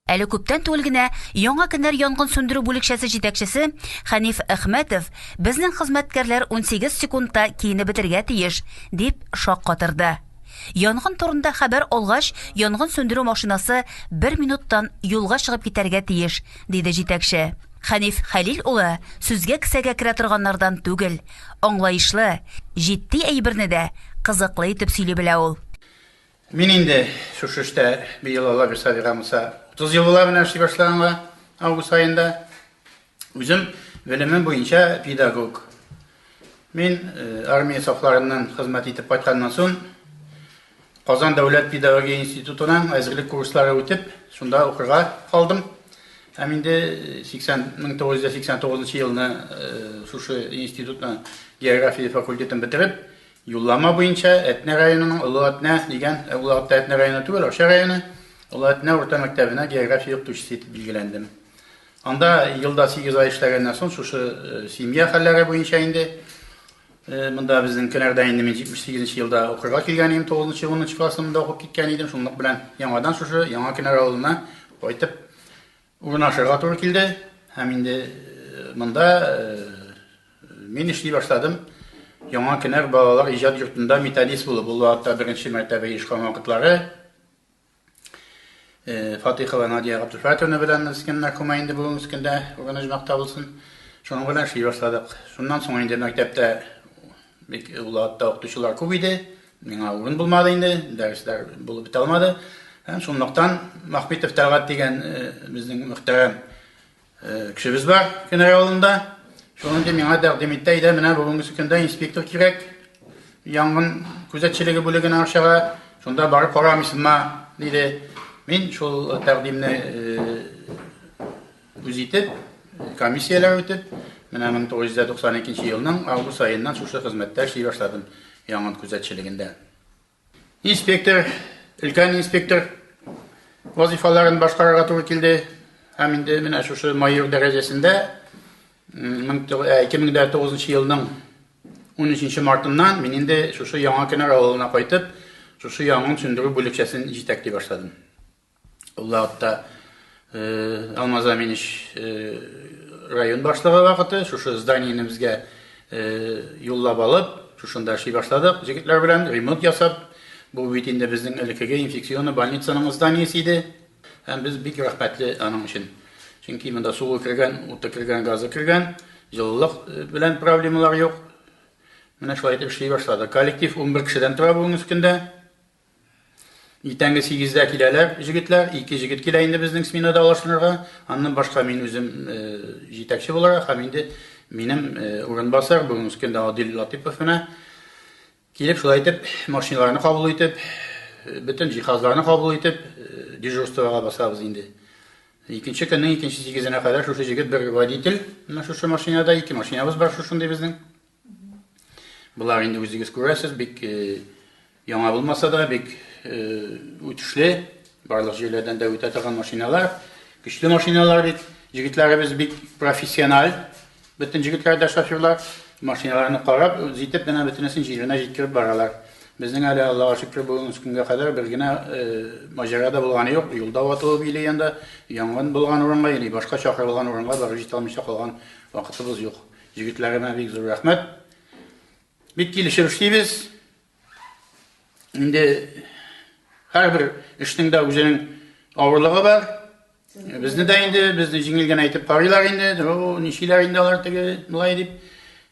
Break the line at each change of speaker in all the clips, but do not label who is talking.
Әле күптән түгел генә Яңа кенәр янгын сүндерү бүлекчәсе җитәкчесе Хәниф Әхмәтов безнең хезмәткәрләр 18 секундта киенеп бетергә тиеш, дип шаккатырды. Янгын турында хәбәр алгач, янгын сүндерү машинасы бер минуттан юлга чыгып китәргә тиеш, диде җитәкче. Хәниф Хәлил улы сүзгә кесәгә керә торганнардан түгел, аңлаешлы, җитди әйберне дә кызыклы итеп сөйли белә ул. Мин инде
шушы эштә быел Алла бирса, алга булса, 30 ел була менә эшли башлаганга август аенда. Үзем белемем буенча педагог. Мин э, армия сафларыннан хезмәт итеп кайтканнан соң Казан дәүләт педагогия институтының әзерлек курслары үтеп, шунда укырга калдым. Һәм инде 80 1989 елны шушы институтның география факультетын бетереп, Юллама буенча Әтнә районының Олы Әтнә дигән, ә ул алыкта Әтнә районы түгел, Арча районы, Олы Әтнә урта мәктәбенә география укытучысы итеп билгеләндем. Анда елда сигез ай эшләгәннән соң шушы семья хәлләре буенча инде монда безнең кенәрдә инде мин 78 нче елда укырга килгән идем, 9 нчы, 10 нчы классымда укып киткән идем, шунлык белән яңадан шушы яңа кенәр авылына кайтып Урнашырга туры килде һәм инде монда мин эшли башладым. Яңа Кенәр балалар иҗат йортында методист булып, ул вакытта беренче мәртәбә оешкан вакытлары Фатыйхова Надия Габдулфатовна белән без кем мәрхүмә инде бүген үскәндә, урын оҗмакта булсын. Шуның белән эшли башладык. Шуннан соң инде мәктәптә Бик Улатта укытучылар күп иде, миңа урын булмады инде, дәресләр булып бетә алмады. Һәм шунлыктан Махметов Тәлгать дигән безнең мөхтәрәм кешебез бар Кенәр авылында. Шуны инде миңа тәкъдим итте, әйдә менә бүгенге көндә инспектор кирәк. Янгын күзәтчелеге бүлегенә Арчага, шунда барып карамыйсыңмы, диде. Мин шул тәкъдимне Үз итеп, комиссияләр үтеп, менә 1992 елның август аеннан шушы хезмәттә эшли башладым, яңгын күзәтчелегендә. Инспектор, өлкән инспектор вазифаларын башкарырга туры килде. Һәм инде менә шушы майор дәрәҗәсендә 2009 елның 13 мартыннан мин инде шушы яңа кенәр авылына кайтып, шушы яңын сүндерү бүлекчәсен җитәкли башладым. Ул вакытта Алмаз Аминич район башлыгы вакыты шушы зданиене безгә юллап алып, шушында эшли башладык. Җегетләр белән ремонт ясап, бу бит инде безнең элеккеге инфекционный больницаның зданиесе иде. Һәм без бик рәхмәтле аның өчен. Чөнки монда суы кергән, уты кергән, газы кергән, җылылык белән проблемалар юк. Менә шулай итеп эшли башлады. Коллектив 11 кешедән тора бүгенге көндә. Иртәнге сигездә киләләр җегетләр, ике җегет килә инде безнең сменада алышынырга. Аннан башка мин үзем җитәкче буларак һәм инде минем урынбасар бүгенге көндә Адил Латыпов менә килеп шулай итеп машиналарны кабул итеп, бөтен җиһазларны кабул итеп дежурствога басабыз инде. Икенче көннең икенче сигезенә кадәр шушы җегет бер водитель, менә шушы машинада ике машинабыз бар шушындый безнең. Болар инде үзегез күрәсез, бик э, яңа булмаса да, бик э, үтешле, барлык җирләрдән дә үтә торган машиналар, көчле машиналар бит. Җегетләребез бик профессиональ, бөтен җегетләр дә шоферлар, машиналарны карап, җитеп генә бөтенесен җиренә җиткереп баралар. Безнең әле Аллаһу шөкер бүгенге көнгә кадәр бер генә э, маҗара да булганы юк. Юлда ватылып или янда янгын булган урынга, или башка чакырылган урынга барып җитә алмыйча калган вакытыбыз юк. Егетләренә бик зур рәхмәт. Бик килешеп эшлибез. Инде һәрбер эшнең дә үзенең авырлыгы бар. Безне дә инде, безне җиңел генә итеп карыйлар инде. О, ничиләр инде алар теге млай дип.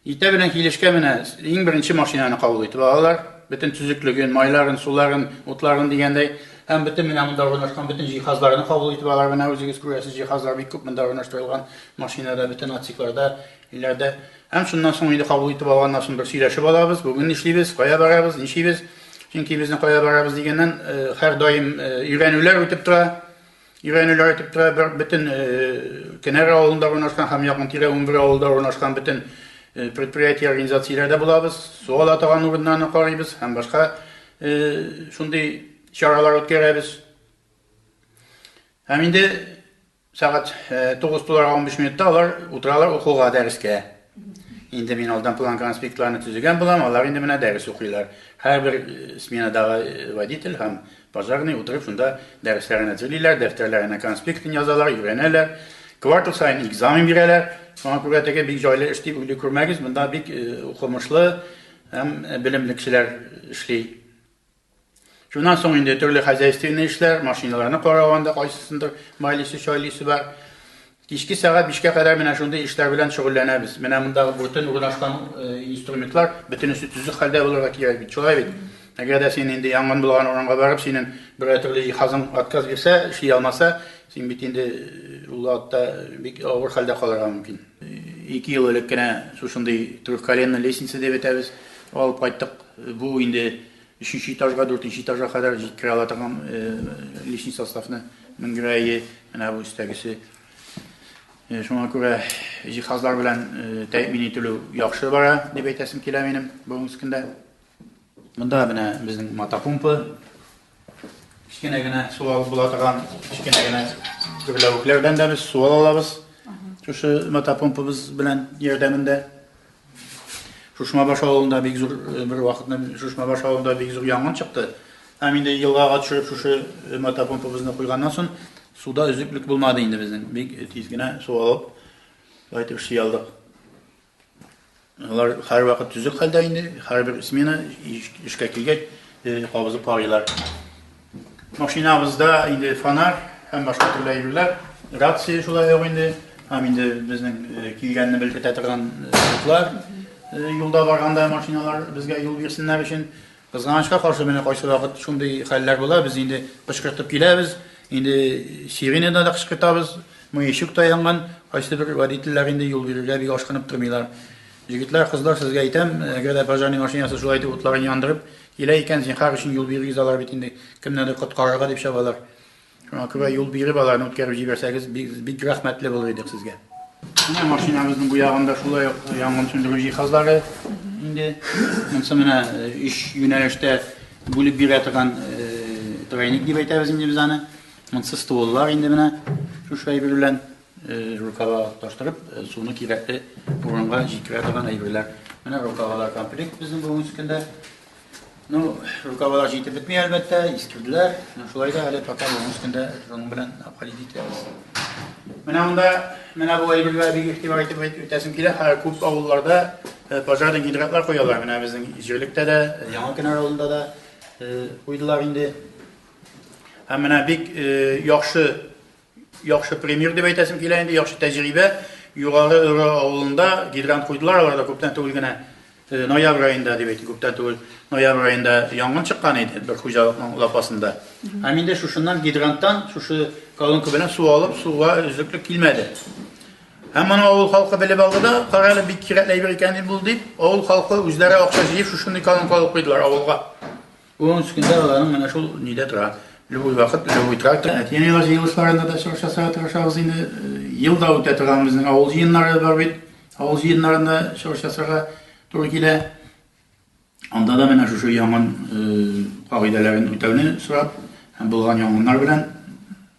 Итә белән килешкә менә иң беренче машинаны кабул итеп алалар. Бөтен төзеклеген, майларын, суларын, утларын дигәндәй. Һәм бөтен менә монда урнашкан бөтен җиһазларны кабул итеп алар. Менә үзегез күрәсез, җиһазлар бик күп монда урнаштырылган, машинада, бөтен отсекларда, өйләрдә. Һәм шуннан соң инде кабул итеп алганнан соң бер сөйләшеп алабыз, бүген нишлибез, кая барабыз, ничибез. Чөнки безнең кая барабыз дигәннән һәрдаим өйрәнүләр үтеп тора. Өйрәнүләр үтеп тора. Бер бөтен Кенәр авылында урнашкан һәм якын-тирә 11 авылда урнашкан бөтен предприятие, организацияләрдә булабыз. Су ала торган урыннарны карыйбыз һәм башка Шундый чаралар үткәрәбез. Һәм инде сәгать 9 туларга 15 минутта алар утыралар укуга, дәрескә. Инде мин алдан план конспектларны төзегән булам, алар инде менә дәрес укыйлар. Һәрбер сменадагы водитель һәм пожарный утырып шунда дәресләрен әзерлиләр, дәфтәрләренә конспектын язалар, өйрәнәләр. Квартал саен экзамен бирәләр. Шуңа күрә теге бик җайлы эш дип уйлый күрмәгез, монда бик укымышлы, Һәм белемле кешеләр эшли. Шуннан соң инде төрле хозяйственный эшләр, машиналарны карау анда кайсысындыр майлисе, чайлисе бар. Кичке сәгать 5-кә кадәр менә шундый эшләр белән шөгыльләнәбез. Менә монда бүтән урнашкан инструментлар бөтенесе төзек хәлдә булырга кирәк бит. Шулай бит. Әгәр дә син инде янгын булган урынга барып, синең бер төрле җиһазың отказ бирсә, эшли алмаса, син бит инде ул атта бик авыр хәлдә калырга мөмкин. Ике ел элек кенә шушындый трехколенная лестница дип әйтәбез, алып кайттык. Бу инде өченче этажга, дүртенче этажга кадәр җиткерә ала торган лишний составны менгерәе, менә бу өстәгесе. Шуңа күрә җиһазлар белән тәэмин ителү яхшы бара, дип әйтәсем килә минем бүгенге көндә. Монда менә безнең мотопомпа. Кечкенә генә су алып була торган, кечкенә генә гөрләвекләр белән дә без су ала алабыз. Шушы мотопомпабыз белән ярдәмендә. Шушма баш авылында бик зур э, бер вакытны Шушма баш авылында бик зур янгын чыкты. Һәм инде елгага төшереп шушы э, мотопомпабызны куйганнан соң суда өзеклек булмады инде безнең. Бик тиз генә су алып, кайтып ши алдык. Алар һәрвакыт төзек хәлдә инде, һәрбер смена эшкә килгәч, кабызып карыйлар. Машинабызда инде фонарь һәм башка төрле әйберләр, рация шулай ук инде, һәм инде безнең килгәнне белгертә торган утлар юлда барганда машиналар безгә юл бирсеннәр өчен Кызганычка каршы, менә кайсы вакыт шундый хәлләр була, без инде кычкыртып киләбез, инде сиренада да кычкыртабыз, маячок та янган, кайсы бер водительләр инде юл бирергә бик ашкынып тормыйлар. Җегетләр, кызлар, сезгә әйтәм, әгәр дә пожарный машинасы шулай итеп утларын яндырып килә икән, зинһар өчен юл бирегез, алар бит инде кемнедер коткарырга дип чабалар. Шуңа күрә юл биреп аларны үткәреп җибәрсәгез, бик рәхмәтле булыр идек сезгә. Менә машинабызның бу ягында шулай ук янгын сүндерү җиһазлары инде. Монсы менә өч юнәлештә бүлеп бирә торган тройник дип әйтәбез инде без аны. Монсы стволлар инде менә шушы әйбер белән рукава таштырып, суны кирәкле урынга җиткерә торган әйберләр. Менә рукавалар комплект безнең бүгенге көндә. Ну, рукавалар җитеп бетми, әлбәттә, искерделәр. Ну, шулай да әле татар уның өстендә шуның белән апалит итәбез. Менә монда, менә бу әйбергә бик игътибар итеп үтәсем килә. Хәзер күп авылларда э, пожарный гидратлар куялар. Менә безнең җирлектә дә, э, Яңа Кенәр авылында да э, куйдылар инде. Һәм менә бик яхшы Яхшы пример дип әйтәсем килә инде, яхшы тәҗрибә. Югары Өрө авылында гидрант куйдылар, аларда күптән түгел генә э, ноябрь аенда дип әйтик, күптән түгел ноябрь аенда янгын чыккан иде бер хуҗалыкның лапасында. Һәм инде шушыннан гидранттан шушы колонка белән су алып, суга өзеклек килмәде. Һәм моны авыл халкы белеп алды да, кара әле бик кирәкле әйбер икән бул дип, авыл халкы үзләре акча җыеп шушындый колонка алып куйдылар авылга. Ун өч көндә аларның менә шул нидә тора. Любой вакыт, любой трактор. Әти-әниләр җыелышларында да чыгыш ясарга тырышабыз инде. Ел да үтә торган безнең авыл җыеннары бар бит. Авыл җыеннарында чыгыш ясарга туры килә. Анда да менә шушы янгын кагыйдәләрен үтәүне сорап, һәм булган янгыннар белән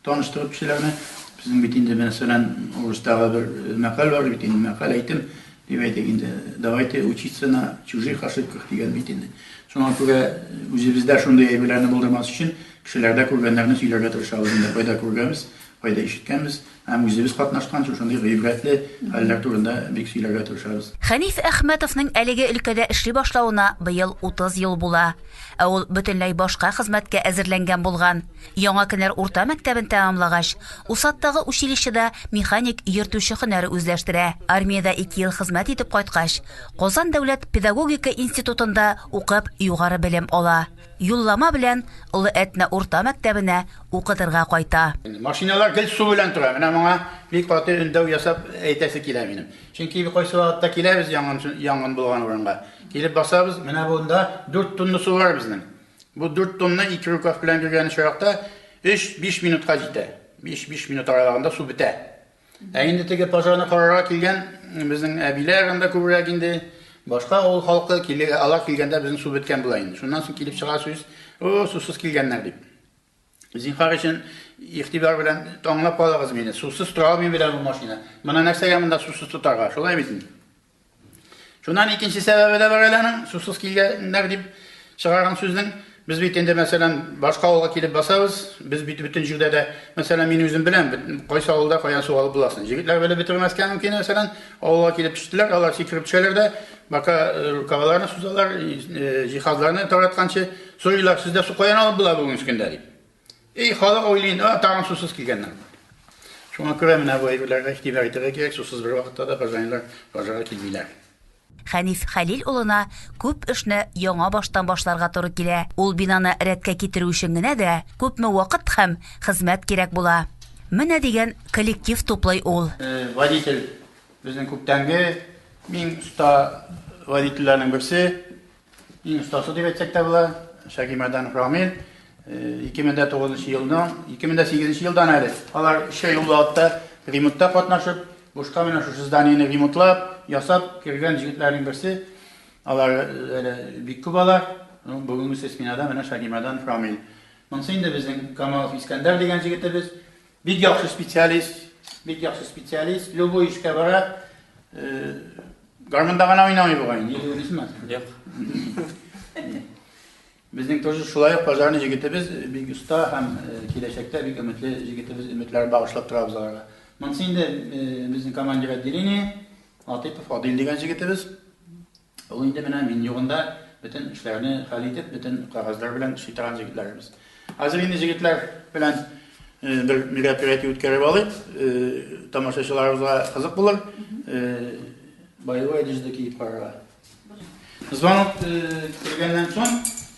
таныштырып кешеләрне. Безнең бит инде мәсәлән, урыстагы бер мәкаль бар бит инде, мәкаль әйтем. Дип әйтик инде, давайте учиться на чужих ошибках дигән бит инде. Шуңа күрә үзебездә шундый әйберләрне булдырмас өчен, кешеләрдә күргәннәрне сөйләргә тырышабыз инде, кайда күргәнбез, кайда ишеткәнбез, һәм үзебез катнашкан шушындый гыйбрәтле хәлләр турында бик сөйләргә тырышабыз. Хәниф Әхмәтовның
әлеге өлкәдә эшли башлавына быел 30 ел була. Ә ул бөтенләй башка хезмәткә әзерләнгән булган. Яңа Кенәр урта мәктәбен тәмамлагач, Усадтагы училищеда механик йөртүче һөнәре үзләштерә. Армиядә ике ел хезмәт итеп кайткач, Казан дәүләт педагогика институтында укып, югары белем ала. Юллама белән Олы Әтнә урта мәктәбенә укытырга кайта. Машиналар гел су
белән тора. Менә моңа бик каты өндәү ясап әйтәсе килә минем. Чөнки кайсы вакытта киләбез янгын янгын булган урынга, килеп басабыз, менә монда дүрт тонна су бар безнең. Бу дүрт томны ике рукав белән биргән очракта өч-биш минутка җитә. Биш-биш минут аралыгында су бетә. Ә инде теге пожарны карарга килгән безнең әбиләр анда күбрәк инде, башка авыл халкы, алар килгәндә безнең су беткән була инде. Шуннан соң килеп чыга сүз, О, сусыз килгәннәр, дип. Зинхар өчен игътибар белән таңлап калыгыз мине. Сусыз тора алмыйм белән бу машина. Моны нәрсәгә монда сусыз тотарга? Шулай бит инде. Шуннан икенче сәбәбе дә бар әле аның, сусыз килгәннәр дип чыгарган сүзнең. Без бит инде, мәсәлән, башка авылга килеп басабыз, без бит бөтен җирдә дә, мәсәлән, мин үзем беләм, кайсы авылда каян су алып буласын. Җегетләр белеп бетермәскә мөмкин, мәсәлән, авылга килеп төштеләр, алар сикереп төшәләр дә, бака рукавларны сузалар, җиһазларны таратканчы, Сорыйлар, сездә су каян алып була бүгенге көндә дип. И халык уйлый, а тагын сусыз килгәннәр. Шуңа күрә менә бу әйберләргә игътибар итәргә кирәк, сусыз бер вакытта да хозаинлар базарга килмиләр. Хәниф
Хәлил улына күп эшне яңа баштан башларга туры килә. Ул бинаны рәткә китерү өчен генә дә күпме вакыт һәм хезмәт кирәк була. Менә дигән коллектив туплый ул. Водитель
безнең күптәнге иң оста водительләрнең берсе. Иң остасы дип әйтсәк тә була, Шәгимәдән Рамил 2009 э, елның 2008 елдан әле алар эшкә юллыкта ремонтта катнашып, бушка менә шушы зданиене ремонтлап, ясап кергән җегетләрнең берсе. Алар э, әле бик күп алар. Ну, бүгенге сменада менә Шәгимәдән Рамил. Монысы инде безнең Камалов Искәндәр дигән җегетебез. Бик яхшы специалист, бик яхшы специалист. Любой эшкә бара. Э, Гармунда гына уйнамый бугай, не уйныйсыңмы? Юк. Безнең тоже шулай ук пожарный җегетебез э, бик оста һәм э, киләчәктә бик өметле җегетебез өметләр багышлап торабыз аларга. Монсы инде безнең командир отделение Атыпов Адил дигән җегетебез. Ул инде менә мин югында бөтен эшләрне хәл итеп, бөтен кагазьләр белән эшли торган җегетләребез. Хәзер инде җегетләр белән бер мероприятие үткәреп алыйк. Тамашачыларыбызга кызык булыр. Боевой одежда киеп карарга. Звонок килгәннән соң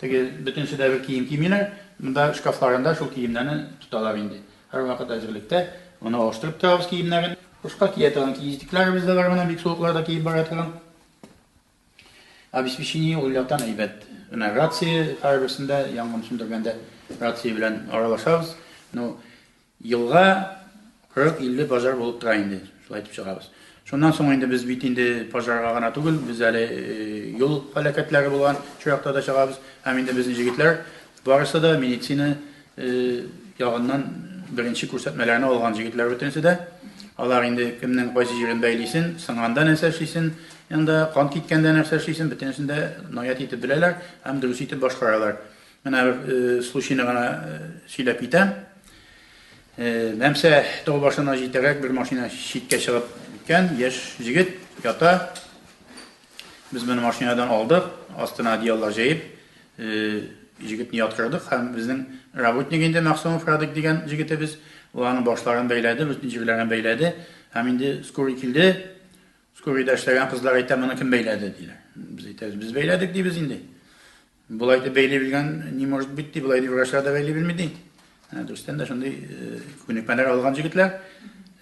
Теге бөтенесе дә бер кием кимиләр, монда шкафларында шул киемнәрне тоталар инде. Һәрвакыт әзерлектә, моны алыштырып торабыз киемнәрен. Кышка кия торган киездекләребез дә бар, менә бик суыклар да киеп бара торган. Обеспечение ул яктан әйбәт. Менә рация, һәрберсендә янгын сүндергәндә рация белән аралашабыз. Ну, Елга 40-50 пожар булып тора инде, шулай итеп чыгабыз. Шуннан соң инде без бит инде пожарга гына түгел, без әле юл һәлакәтләре булган чоракта да чыгабыз. Һәм инде безнең җегетләр барысы да медицина ягыннан беренче күрсәтмәләрне алган җегетләр бөтенесе дә. Алар инде кемнең кайсы җирен бәйлисен, сынганда нәрсә эшлисен, янда кан киткәндә нәрсә эшлисен, бөтенесен дә наят итеп беләләр һәм дөрес итеп башкаралар. Менә бер случайны гына сөйләп китәм. Мәмсә тау башына җитәрәк бер машина читкә чыгып киткән, яшь җегет ята. Без моны машинадан алдык, астына одеяллар җәеп, җегетне яткырдык һәм безнең работник инде Мәгъсумов Радик дигән җегетебез, ул аның башларын бәйләде, бөтен җирләрен бәйләде һәм инде скорый килде. Скорыйда эшләгән кызлар әйтә, моны кем бәйләде, диләр. Без әйтәбез, без бәйләдек, дибез инде. Болай дип бәйли белгән не может быть ди, болай дип врачлар да бәйли белми ди. Ә, Дөрестән дә шундый э, күнекмәләр алган җегетләр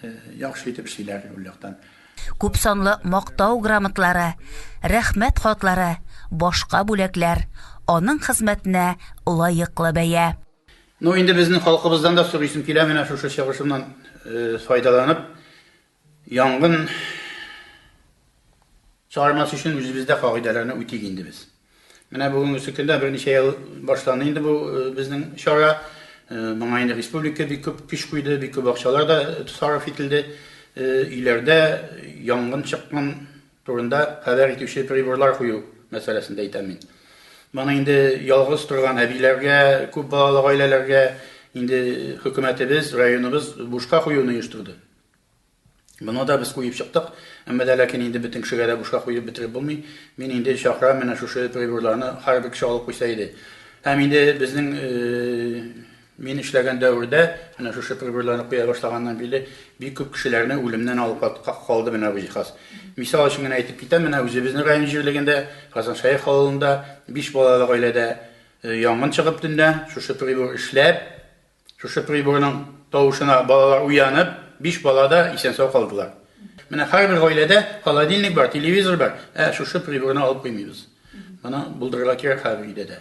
э, яхшы итеп эшлиләр ул яктан. Күп санлы
мактау грамотлары, рәхмәт хатлары, башка бүләкләр, аның хезмәтенә лаеклы бәя. Ну, инде
безнең халкыбыздан да сорыйсым килә, менә шушы чыгышымнан э, файдаланып, Янгын чыгармас өчен үзебездә кагыйдәләрне үтик инде без. Менә бүгенге көндә берничә ел башланды инде бу э, безнең чара. Э, моңа инде республика бик күп көч куйды, бик күп акчалар да сарыф ителде. Э, өйләрдә янгын чыккан турында хәбәр итүче приборлар кую мәсьәләсендә әйтәм мин. Моны инде ялгыз торган әбиләргә, күп балалы гаиләләргә инде хөкүмәтебез, районыбыз бушка куюны оештырды. Моны да без куеп чыктык, әмма дә ләкин инде бөтен кешегә дә бушка куеп бетереп булмый. Мин инде чакырам, менә шушы приборларны һәрбер кеше алып куйса иде. Һәм инде безнең мин эшләгән дәвердә, менә шушы приборларны куя башлаганнан бирле, бик күп кешеләрне үлемнән алып калды менә бу җиһаз. Мисал өчен генә әйтеп китәм, менә үзебезнең район җирлегендә, Казаншаих авылында, биш балалы гаиләдә янгын чыгып төнлә, шушы прибор эшләп, Шушы приборның тавышына балалар уянып, биш бала да исән-сау калдылар. Менә һәрбер гаиләдә холодильник бар, телевизор бар, ә шушы приборны алып куймыйбыз. Моны булдырырга кирәк һәрбер өйдә дә.